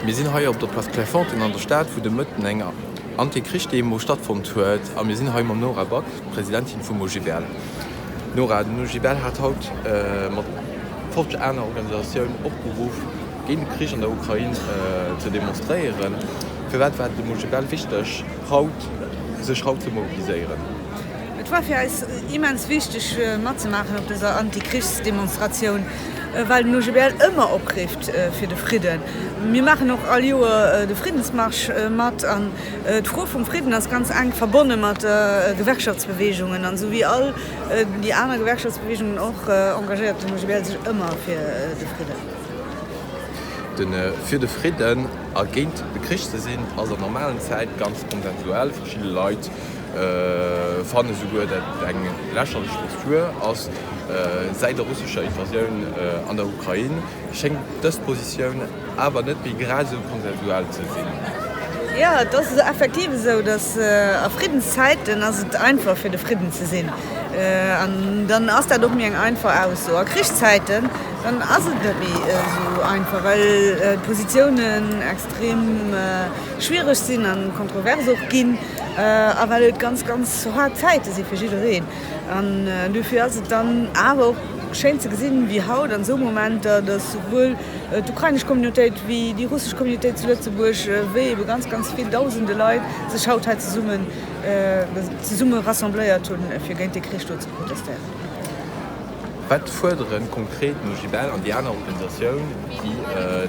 Mir sinn hei op der Place Clairefontaine an der Stad, wou de Mëtten eng Antikrichsdemo stattfonnt huet. A mir sinn hei mam Nora Back, Presidentin vum OGBL. Nora, den OGBL hat haut mat Folg aner Organisatioun opgeruff, Géint de Krich an der Ukrain ze demonstréieren. Firwat war et dem Mujibel wichteg, sech haut ze mobiliséieren? Et war fir eis immens wichteg, matzemaachen op dëser Anti-Krichs-Demonstratioun, well de Mujibel ëmmer oprifft fir de Fridden. Mir maachen och all Joer de Friddensmarsch mat. An d'Fro vum Fridden ass ganz enk verbonne mat de Gewerkschaftsbeweegungen. An esou wéi all déi aner Gewerkschaftsbeweegungen och engagéiert de Mujibel sech ëmmer fir de Fridden. De fir de Fridden a géint de Krich ze sinn, ass an normalen Zäite ganz konsensuell. Verschidde Leit fanne souguer, datt et eng lächerlech Postur ass. Säit der russescher Invasioun an der Ukrain schéngt dës Positioun awer net méi grad esou konsensuell ze sinn. Jo, et ass effektiv esou, datt a Friddenszäiten ass et einfach fir de Fridden ze sinn. An dann ass dat och méi eng einfach Ausso. A Krichszäiten Dann ass et net méi esou einfach, well d'Positiounen extrem schwiereg sinn a kontrovers och ginn a well et ganz, ganz haart Zäite si fir jiddereen. An dofir ass et dann awer och schéin ze gesinn, wéi haut an esou Momenter, datt souwuel d'ukrainesch Communautéit wéi déi russesch Communautéit zu Lëtzebuerg, wéi ebe ganz, ganz vill Dausende Leit sech haut hei zesummen, zesumme rassembléiert hunn, fir géint dee Krich do ze protestéieren. Wat fuerderen konkret d'Mogibel an déi aner Organisatioun, déi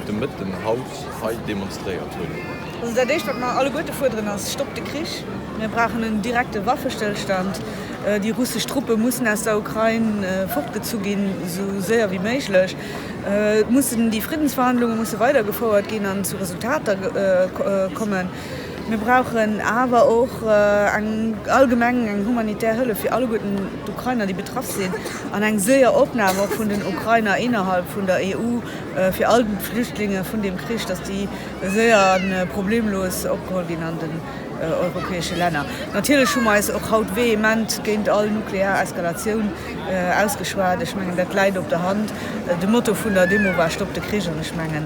de Mëtten haut hei demonstréiert hunn? Also dat éischt wat mer alleguerte fuerderen ass, Stoppt de Krich! Mir brauchen en direkte Waffestëllstand. Déi russesch Truppe mussen aus der Ukrain fortgezu ginn, esou séier wéi méiglech. Et mussen déi Friddensverhandlunge musse weidergefouert ginn an zu Resultater kommen. Mir brauchen awer och eng allgemeng, eng humanitär Hëllef fir alleguerten d'Ukrainer, déi betraff sinn, an eng séier Opnam och vun den Ukrainer innerhalb vun der EU fir all d'Flüchtlinge vun deem Krich, dass déi séier a problemlos opgeholl ginn an den europäesche Länner. Natierlech hu mer eis och haut vehement géint all nuklear Eskalatioun ausgeschwat. Ech mengen, dat läit op der Hand. De Motto vun der Demo war Stopp de Krich! An ech mengen,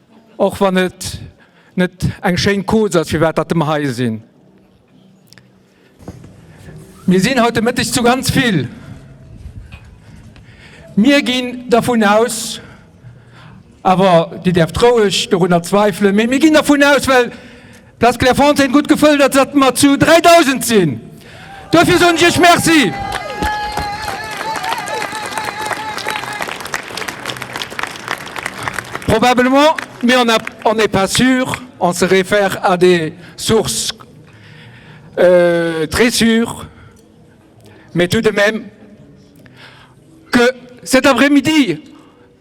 Och wann et net eng schéin Cause ass firwat datt mer hei sinn. Mir sinn haut de Mëtteg zu ganz vill. Mir ginn dervun aus, awer Dir däerft roueg dorunner zweifelen, mee mir ginn dervun aus, well D'Place Clairefontaine gutt gefëllt, dat datt mer zu 3.000 sinn. Duerfir soen ech iech Merci. Probablement, mais on a, on n'est pas sûr, on se réfère à des sources très sûres, mais tout de même, que cet après-midi,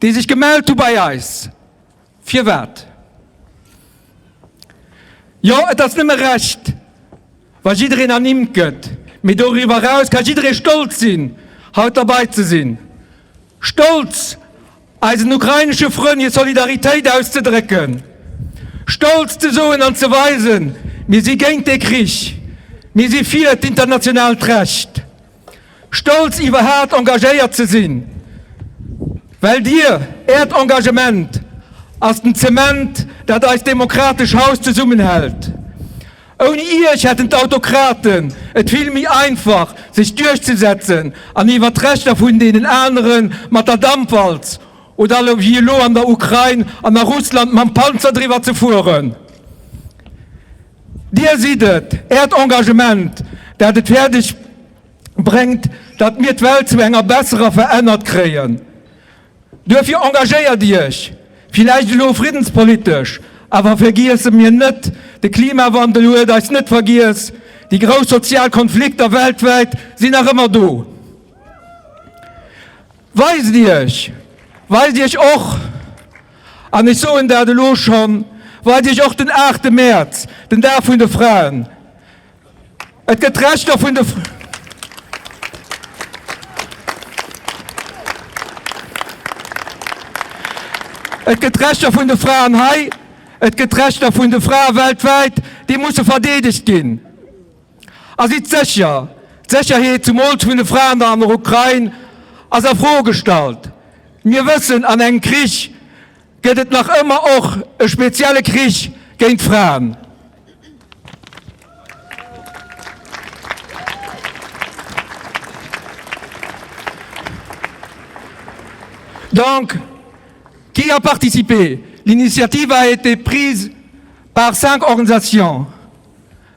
déi sech gemellt hu bei eis. Firwat? Jo, et ass nëmme recht, wa jiddereen ernimmt gëtt, mee doriwwer eraus ka jidderee stolz sinn, haut derbei ze sinn, stolz eisen ukrainesche Frënn hir Solidaritéit auszedrécken, stolz ze soen an ze weisen, Mir si géint dee Krich, mir si fir d'internationaalt Recht. Stolz iwwerhaat engagéiert ze sinn, well dir äert Engagement ass den Zement dat eist demokratesch Haus zesummen hält. Ouni iech hätten d'Autokraten et vill méi einfach sech duerchzesetzen an iwwert d'Rechter vun deenen aneren mat der Dampwalz oder wéi elo an der Ukrain an a Russland mam Panzer driwwer ze fueren. Dir sidd et, Äert Engagement, dat et fäerdeg bréngt, datt mir d'Welt zu enger besserer verännert kréien. Duerfir engagéiert Iech, villäicht elo friddenspolitesch, awer vergiesse mir net, de Klimawandel huet eis net vergiess, déi grouss sozial Konflikter weltwäit sinn nach ëmmer do. Weist Iech, weist Iech och, an ech soen dat elo schonn, weist Iech och den 8 Mäerz, den Dag vun de Fraen. Et gëtt d'Rechter vun de Fraen. Et gëtt d'Rechter vun de Fraen hei, et gëtt d'Rechter vun de Frae weltwäit, déi musse verdeedegt ginn. A sidd sécher, d'Sécherheet zumools vun de Fraen an der Ukrain ass a Fro gestallt. Mir wëssen, an engem Krich gëtt et nach ëmmer och e spezielle Krich géint d'Fraen. Donc, qui a participé? L'initiative a été prise par cinq organisations,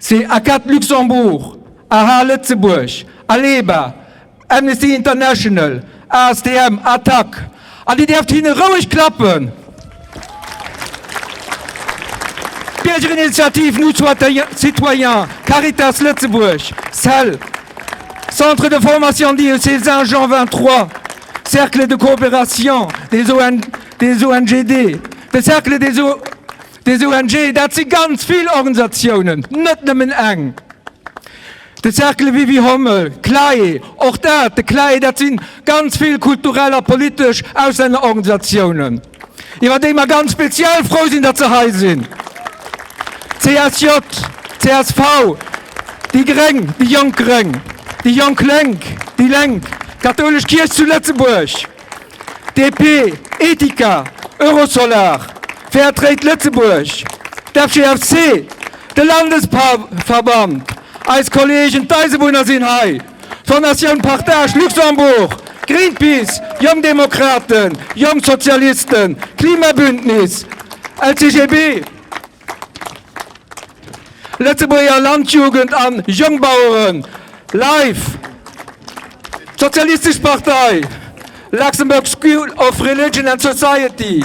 Chez ACAD Luxembourg, aha Lëtzebuerg, ALEBA, Amnesty International, ASTM, ATTAC, an Dir däerft hinne roueg klappen, d'Biergerinitiativ Nous Citoyens, Caritas Lëtzebuerg, cell, Centre de Formation d'IEC Saint-Jean 23, Cercle de Coopération des ONGD, de Cercle des. Des ONG, dat si ganz vill Organisatiounen, net nëmmen eng. De Cercle Wiwi Hommel, Clae, och dat, de Clae, dat si ganz vill kulturell a politesch Auslännerorganisatiounen, iwwer déi mer ganz speziell frou sinn, datt se hei sinn, d'CSJ, csv, déi Gréng, déi jonk Gréng, déi jonk Lénk, déi Lénk, d'kathoulesch Kierch zu Lëtzebuerg. DP, Etika, Eurosolar, Fairtrade Lëtzebuerg, d'FGFC, de Landesverband, eis Kolleegen, d'Eisebunner sinn hei, d'Fondatioun Partage Luxembourg, Greenpeace, Jonk Demokraten, Jonk Sozialisten, Klimabündnis, LCGB. Lëtzebuerger Landjugend an Jongbaueren live! D'Sozialistesch Partei, Luxembourg School of Religion and Society,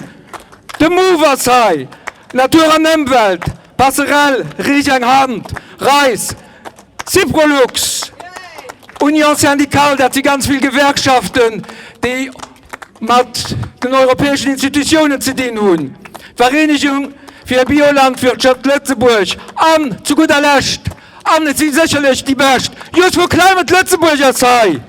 de move ass hei, Natur an Ëmwelt, Passerell, Riech eng Hand, Reis, Syprolux, Union Syndicale, dat si ganz vill Gewerkschaften, déi. mat den europäeschen Institutiounen ze dinn hunn, d'Vereenigung fir e Biolandwirtschaft Lëtzebuerg an zu gudder Lescht, an et si sécherlech déi bescht, Youth for Climate Lëtzebuerg ass hei.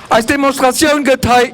Eis Demonstratioun gëtt hei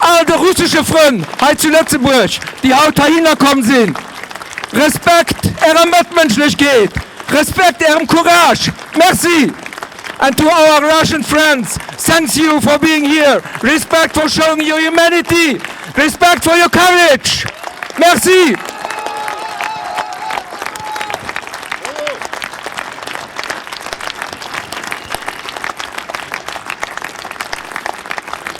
All de russesche Frënn hei zu Lëtzebuerg, déi haut heihinner komm sinn, Respekt Ärer Mëttmënschlechkeet, Respekt Ärem Courage. Merci! And to our Russian friends, thanks you for being here, respect for showing your humanity, respect for your courage. Merci!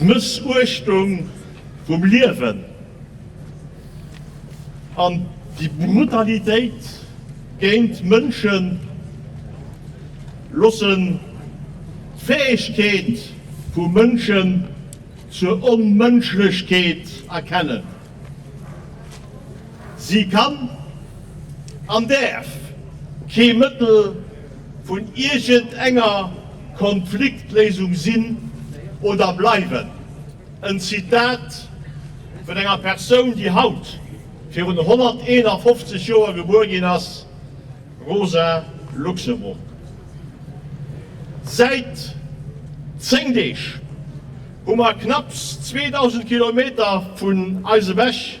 D'Mëssuechtung vum Liewen an déi Brutalitéit géint Mënschen loossen d'Fäegkeet vu Mënschen zur Onmënschlechkeet erkennen. Si kann an däerf kee Mëttel. vun iergend enger Konfliktléisung sinn oder bleiwen, en Zitat vun enger Persoun, déi haut virun 151 Joer gebuer ginn ass, Rosa Luxemburg. Säit 10 Deeg hu mer knapps 2.000 Kilometer vun eis ewech.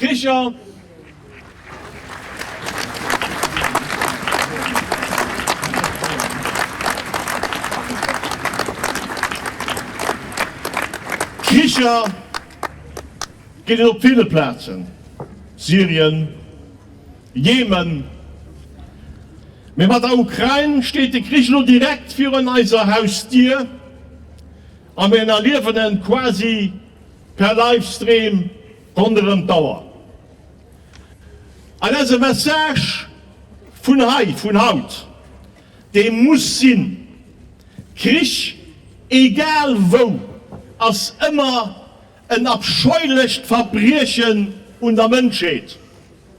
Richard! Kricher ginn et op ville Plazen, Syrien, Jemen. Mee mat der Ukrain steet de Krich elo direkt virun eiser Hausdier a mir erliewen e quasi per Livestream ronderëm d'Auer. An eise Message vun hei, vun haut, dee muss sinn, Krich, egal wou, ass ëmmer en abscheulecht Verbriechen un der Mënschheet.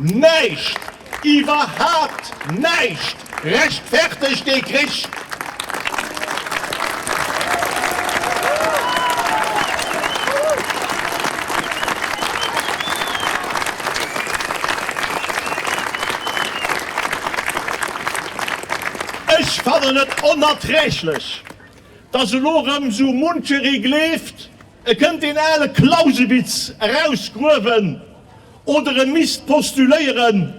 Näischt, iwwerhaapt näischt rechtfertegt dee Krich. Ech fannen et onerträglech, dass elo erëm esou muncheree gleeft, e kënnt deen ale Clausewitz erausgruewen Oder e misst postuléieren,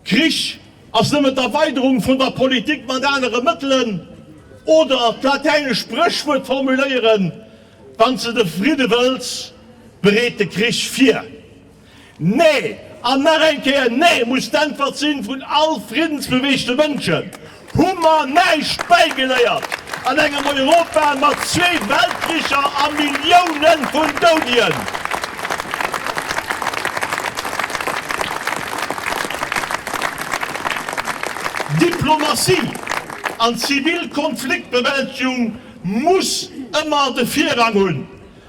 Krich ass nëmmen d'Erweiderung vun der Politik mat anere Mëttelen. Oder d'latäinescht Spréchwuert formuléieren, Wann s de de Fridde wëlls, bereet de Krich vir. Nee, an nach eng Kéier Nee muss d'Äntwert sinn vun all friddensbeweegte Mënschen. Hu mer näischt bäigeléiert an engem Europa mat zwee Weltkricher a Milliounen vun Doudien? Diplomatie an zivil Konfliktbewältegung muss ëmmer de Virrang hunn.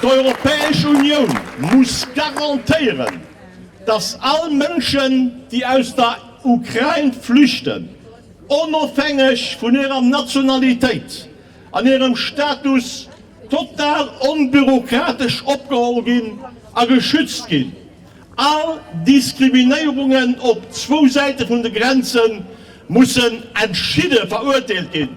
D'Europäesch Unioun muss garantéieren, datt all Mënschen, déi aus der Ukrain flüchten, onofhängeg vun hirer Nationalitéit an hirem Status, total onbürokratesch opgeholl ginn a geschützt ginn. All Diskriminéierungen op zwou Säite vun de Grenze mussen entschidde verurteelt ginn.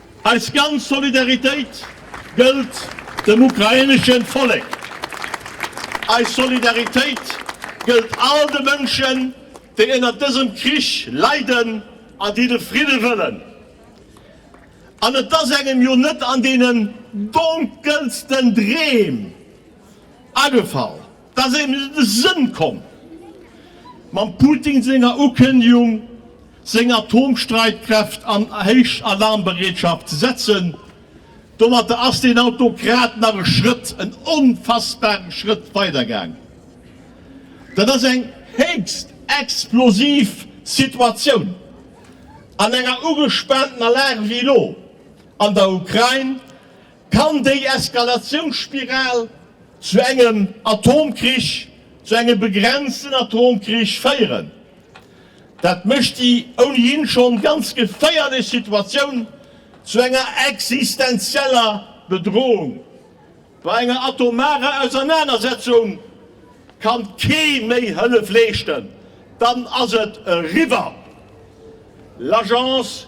Eis ganz Solidaritéit gëllt dem ukrainesche Vollek. Eis Solidaritéit gëllt all de Mënschen, déi ënnert dësem Krich leiden an déi de Fridde wëllen. An et ass engem jo net an deenen donkelsten Dreem agefall, Daat ass eben net aus Sënn komm mam Putin senger Ukëndigung seng Atomstreitkräft an héich Alarmbereetschaft ze setzen. Domatter ass deen Autokrat nach e Schrëtt, en onfassbaren Schrëtt weider gaang. Daat ass eng héchst explosiv Situatioun an enger ugespaantener Lag wéi elo an der Ukrain, Kann déi Eskalatiounsspiral zu engem Atomkrich, zu engem begrenzten Atomkrich féieren? Dat mécht déi ounihin schonn ganz geféierlech Situatioun zu enger existenzieller Bedrohung. Bei enger atomarer Ausernanersetzung kann kee méi Hëllef leeschten, dann ass et eriwwer. L'Agence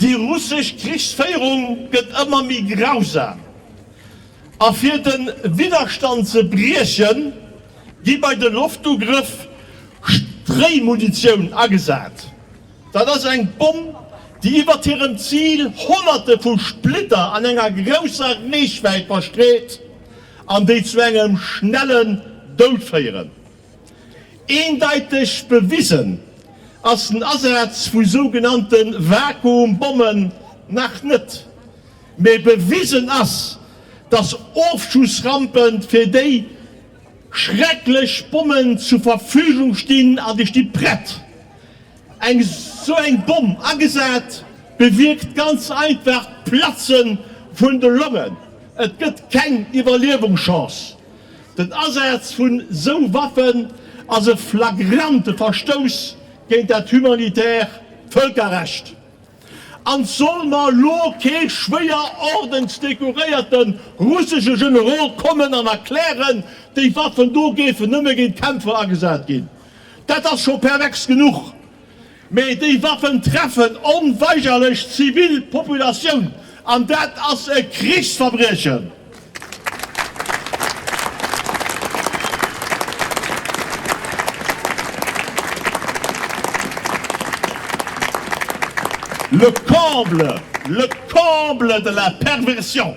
Déi russesch Krichsféierung gëtt ëmmer méi grausam, a fir de Widderstand ze briechen, gi bei de Loftugrëff Stréimunitioun agesat. Dat ass eng Bomm, déi iwwert hirem Zil Honnerte vu Splitter an enger grousser Reechwäit verstreet an déi zu engem schnellen Doud féieren. Eendeiteg bewisen ass den Asaz vu sougenannte Vakuumbommen nach net, mee bewisen ass, datt Ofschussrampe fir déi schrecklech Bommen zur Verfügung stinn an déi sti prett. Eng esou eng Bomm agesat bewierkt ganz einfach d'Platzen vun de Longen. Et gëtt keng Iwwerliewungschance. Den Asaz vun esou Waffen ass e flagrante Verstouss géint dat humanitäre Vëlkerrecht an soll mer elo kee schwéier ordensdekoréierte russesche Generol kommen an erklären, déi Waffen do géifen nëmme géint d'Kämpfer agesat ginn. Dat ass scho pervers genuch. Mee déi Waffen treffen onweigerlech d'zivil Populatioun, an dat ass e Krichsverbriechen. Le comble, le comble de la perversion!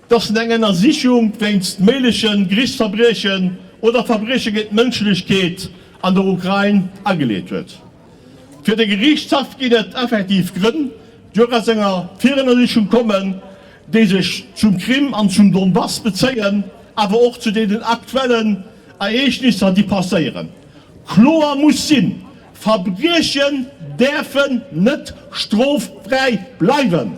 dass en eng Ënnersichung wéinst méigleche Geriichtsverbriechen oder Verbrieche géint d'Mënschlechkeet an der Ukrain ageleet huet. Fir de Geriichtshaff ginn et effektiv Grënn, déi och aus enger Virënnersichung kommen, déi sech zum Krim an zum Donbass bezéien, awer och zu deenen aktuellen Ereegnisser, déi passéieren. Kloer muss sinn, Verbriechen däerfen net stroffräi bleiwen!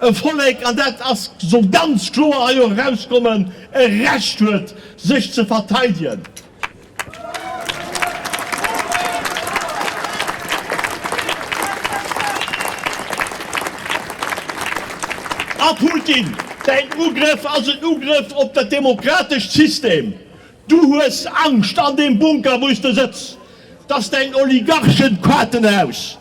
E Vollek, an dat ass, soll ganz kloer hei och erauskommen, e Recht huet, sech ze verteidigen. A Putin, däin Ugrëff ass en Ugrëff op dat demokratescht System. Du hues Angscht, an deem Bunker, wou s de sëtz, dass däin Oligarchen-Quatenhaus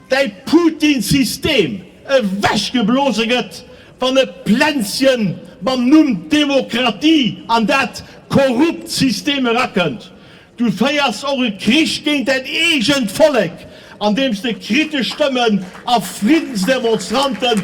däi Putin System ewech geblose gëtt, wann e Plänzchen mam Numm Demokratie an dat korrupt System erakënnt. Du féiers och e Krich géint däin eegent Vollek, andeems de kritesch Stëmmen a Friddensdemonstranten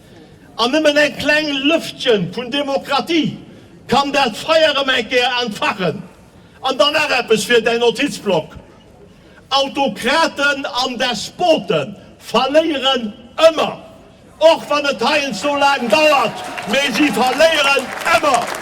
An nëmmen eng kleng Lëftchen vun Demokratie kann dat Feier erëm eng Kéier entfachen. An dann nach eppes fir däin Notizblock, Autokraten an Despote verléieren ëmmer, och wann et heiansdo sou laang dauert, mee si verléieren ëmmer.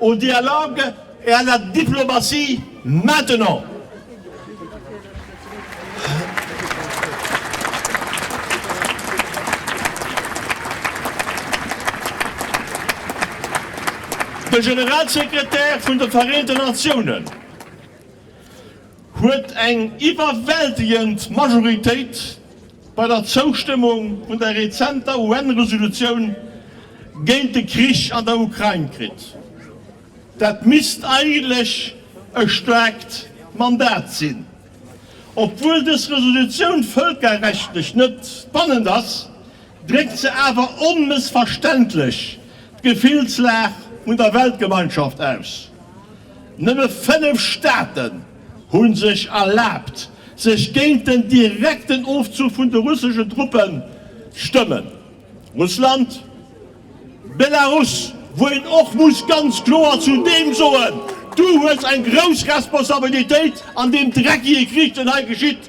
Au dialogue et à la diplomatie maintenant! De Generalsekretär vun de Vereente Natiounen, huet eng iwwerwältegend Majoritéit bei der Zoustëmmung vun der rezenter UN-Resolutioun géint de Krich an der Ukrain kritt. Dat misst eigentlech e staarkt Mandat sinn. Obwuel dës Resolutioun vëlkerrechtlech net bannend ass, dréckt se awer onmëssverständlech d'Gefillslag vun der Weltgemeinschaft aus. Nëmme fënnef Staaten hu sech erlaabt, sech géint den direkten Ofzuch vun de russeschen Truppen stëmmen, Russland, Belarus, wou een och muss ganz kloer zu deem soen, Du hues eng grouss Responsabilitéit an deem dreckige Krich, deen hei geschitt.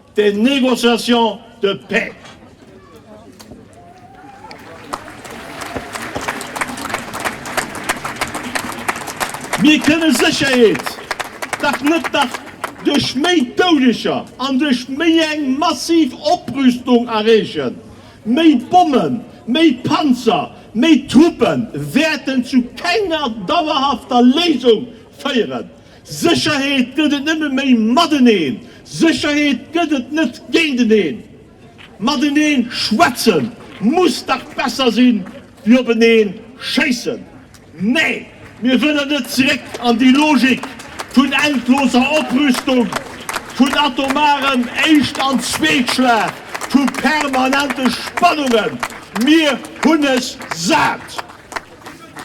des négociations de paix. Mir kënne Sécherheet dach net nach duerch méi Doudeger an duerch méi eng massiv Oprüstung erreechen. Méi Bommen, méi Panzer, méi Truppe wäerten zu kenger dauerhafter Léisung féieren. Sécherheet gëtt et nëmme méi mateneen, Sécherheet gëtt et net géinteneen. Mateneen schwätze muss dach besser sinn, wéi openeen schéissen. Nee, mir wëllen net zeréck an déi Logik vun endloser Oprüstung, vun atomarem Éischt an Zweetschlag, vu permanente Spannungen. Mir hunn es sat!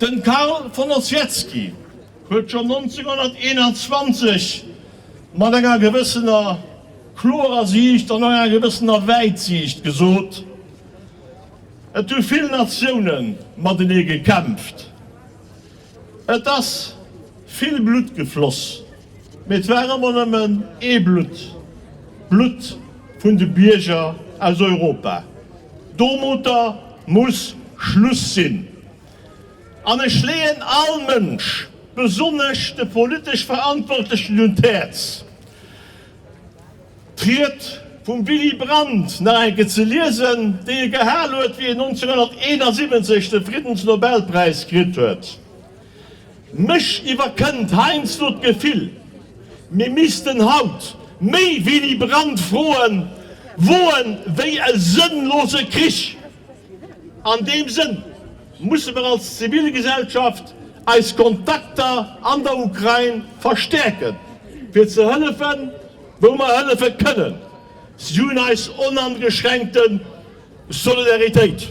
Den Carl von Ossietzky huet schon 1921 mat enger gewëssener klorer Siicht an och enger gewëssener Wäitsiicht gesot, Et hu vill Natiounen matenee gekämpft, et ass vill Blutt gefloss. Mee et war ëmmer nëmmen ee Blutt, d'Blutt vun de Bierger aus Europa. Domoter muss Schluss sinn. An ech leeën all Mënsch, besonnesch de politesch Verantwortlechen un d'Häerz, d'Ried vum Willy Brandt nach eng Kéier ze liesen, déi e gehal huet, wéi en 1971 de Friddensnobelpräis kritt huet. Mech iwwerkënnt heiansdo d'Gefill, mir missten haut méi Willy Brandt Froen woen wéi e sënnlose Krich. An deem Sënn musse mer als Zivilgesellschaft eis Kontakter an der Ukrain verstäerken, fir ze hëllefen, wou mer hëllefe kënnen. Si hunn eis onangeschränkte Solidaritéit.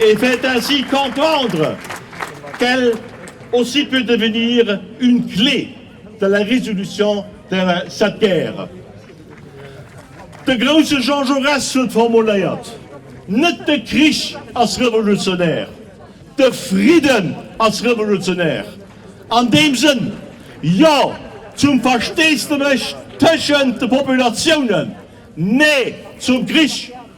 et fait ainsi comprendre qu'elle aussi peut devenir une clé de la résolution de cette guerre. De grouse Jean Jaurès huet formuléiert, Net de Krich ass revolutionär, de Fridden ass revolutionär. An deem Sënn, Jo zum Versteesdemech tëschent de Populatiounen, Nee zum Krich!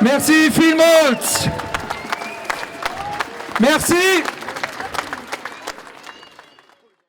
Merci villmools! Merci!